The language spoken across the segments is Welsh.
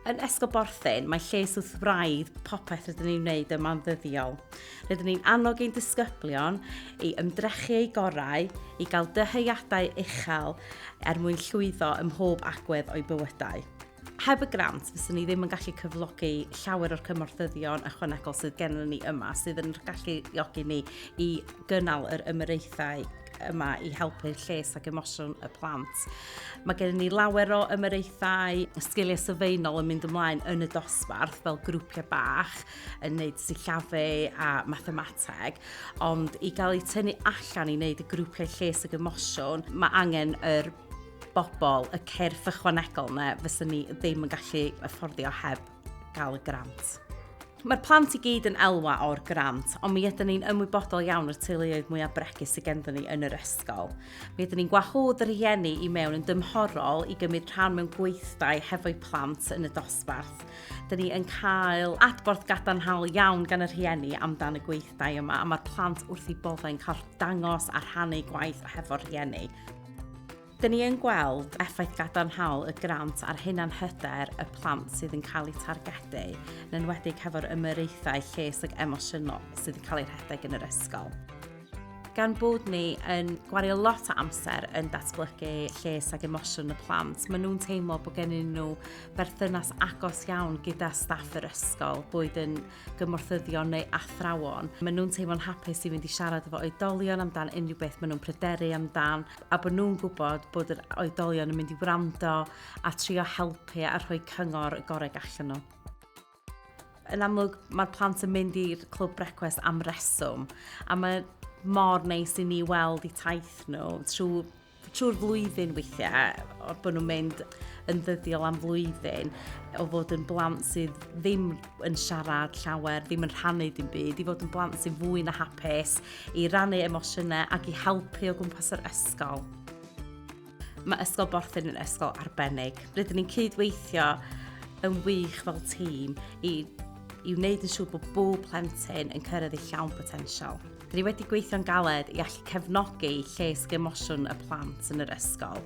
Yn Esgob Borthyn, mae lles wrth wraidd popeth rydyn ni'n wneud yma'n ddyddiol. Rydyn ni'n annog ein disgyblion i ymdrechu eu gorau, i gael dyheuadau uchel er mwyn llwyddo ym mhob agwedd o'i bywydau. Heb y grant, fyswn ni ddim yn gallu cyflogi llawer o'r cymorthyddion ychwanegol sydd gennym ni yma, sydd yn gallu galluogi ni i gynnal yr ymyraethau yma i helpu lles ac emosiwn y plant. Mae gen ni lawer o ymyraethau sgiliau sylfaenol yn mynd ymlaen yn y dosbarth fel grwpiau bach yn neud sillafu a mathemateg, ond i gael eu tynnu allan i wneud y grwpiau lles ac emosiwn, mae angen yr bobl, y cyrff ychwanegol yna, fyswn ni ddim yn gallu afforddio heb gael y grant. Mae'r plant i gyd yn elwa o'r grant, ond mi ydyn ni'n ymwybodol iawn o'r teuluoedd mwyaf bregus sydd genddyn ni yn yr ysgol. Mi ydyn ni'n gwahodd yr rhieni i mewn yn dymhorol i gymryd rhan mewn gweithdai hefo'u plant yn y dosbarth. Dyn ni yn cael adborth gadarnhaol iawn gan y rhieni amdan y gweithdai yma, a mae'r plant wrth i boddau'n cael dangos a rhannu gwaith hefo'r rhieni. Dyn ni yn gweld effaith gadarnhaol y grant ar hunanhyder y plant sydd yn cael eu targedu, yn enwedig hefo'r ymyraethau lles ac emosiynol sydd yn cael eu rhedeg yn yr ysgol. Gan bod ni yn gwario lot o amser yn datblygu lles ac emosiwn y plant, maen nhw'n teimlo bod gennym nhw berthynas agos iawn gyda staff yr ysgol, boed yn gymorthyddion neu athrawon. Maen nhw'n teimlo'n hapus i fynd i siarad efo oedolion amdan unrhyw beth maen nhw'n pryderu amdan, a bod nhw'n gwybod bod yr oedolion yn mynd i wrando a trio helpu a rhoi cyngor y gorau gallwn nhw. Yn amlwg, mae'r plant yn mynd i'r clwb brecwest am reswm, a mae mor neis i ni weld i taith nhw trwy trwy'r flwyddyn weithiau, o'r bod nhw'n mynd yn ddyddiol am flwyddyn, o fod yn blant sydd ddim yn siarad llawer, ddim yn rhannu dim byd, i fod yn blant sydd fwy na hapus, i rannu emosiynau ac i helpu o gwmpas yr ysgol. Mae Ysgol Borthyn yn ysgol arbennig. Rydyn ni'n cydweithio yn wych fel tîm i, i wneud yn siŵr bod bob plentyn yn cyrraedd ei llawn potensial. Dyn ni wedi gweithio'n galed i allu cefnogi lles emosiwn y plant yn yr ysgol.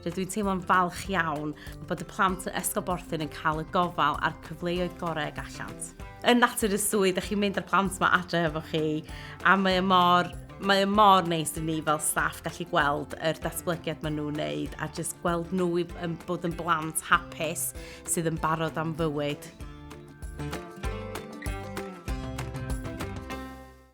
Rydw i'n teimlo'n falch iawn bod y plant yn Ysgol Borthyn yn cael y gofal a'r cyfleoedd gorau gallant. yn natur y swydd, ydych chi'n mynd â'r plant yma adre efo chi, a mae mor mae mor neis i ni fel staff gallu gweld yr datblygiad maen nhw'n wneud a jyst gweld nhw i, yn bod yn blant hapus sydd yn barod am fywyd.